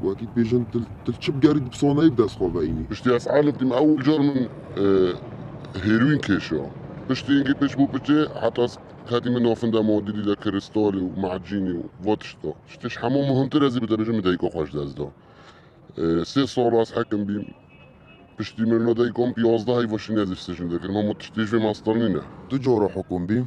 Wekî pêjin til çi bigerî di pisoneyê bi dest xwe veyînî. Piştî ez elîf dîm ewil car min hêroîn kêşa. Piştî îngî pêç bo pêçê heta hetî min nafinda ma dîdî de krîstalî û macînî û va tişta. Ji te ji hemû muhimtir ez ê bi te bijim min dayika xwe ji dest da. Sê sal ez hekim bîm. Piştî mirina dayika min pî yazdeh heyva şîn ez ê sijin dikirim. Hemû tiştê ji vê me astar nîne. Du cara hekim bîm.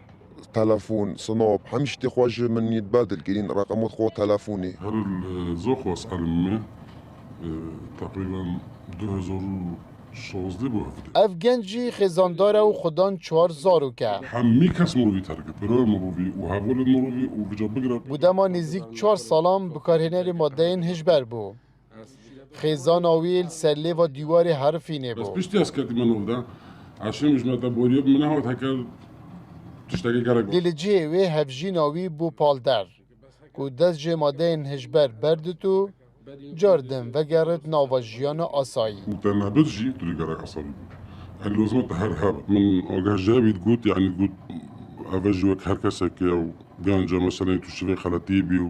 Telefon, Sinop, hemî şitê xwe ji min yê dibe dilgirîn, reqemot xwe û telefonê. Her zok waz herim me teqrîben du hezar û şazdeh bo hevdeh. Ev genc jî xêzandar e û xwe dan çar zarok e. Hemî kes mirovî terk e, pêroya mirovî û hevolên mirovî û bi ca bigire. Bi dema nêzîk çar salan bikarhênerê madeyên hişber bû. Xêzana wî li ser lêva dîwarê herifînê Ez bû. piştî ez ketime nav de. Eşê min ji me te boriye bi min nehat heke tiştekê gerek Lê li cihê wê hevjîna wî bû palder. Ku dest jê madeyên hişber berdit û car din vegerit nava jiyana asayî. Û te nebit jî tu dê gerek asayî bibî. Yanî lozima te her hebe. Min agah ji hevî digot yanî digot eve jî wek her kesekê ye û ganc e meseleyê tu şivê xeletî bî û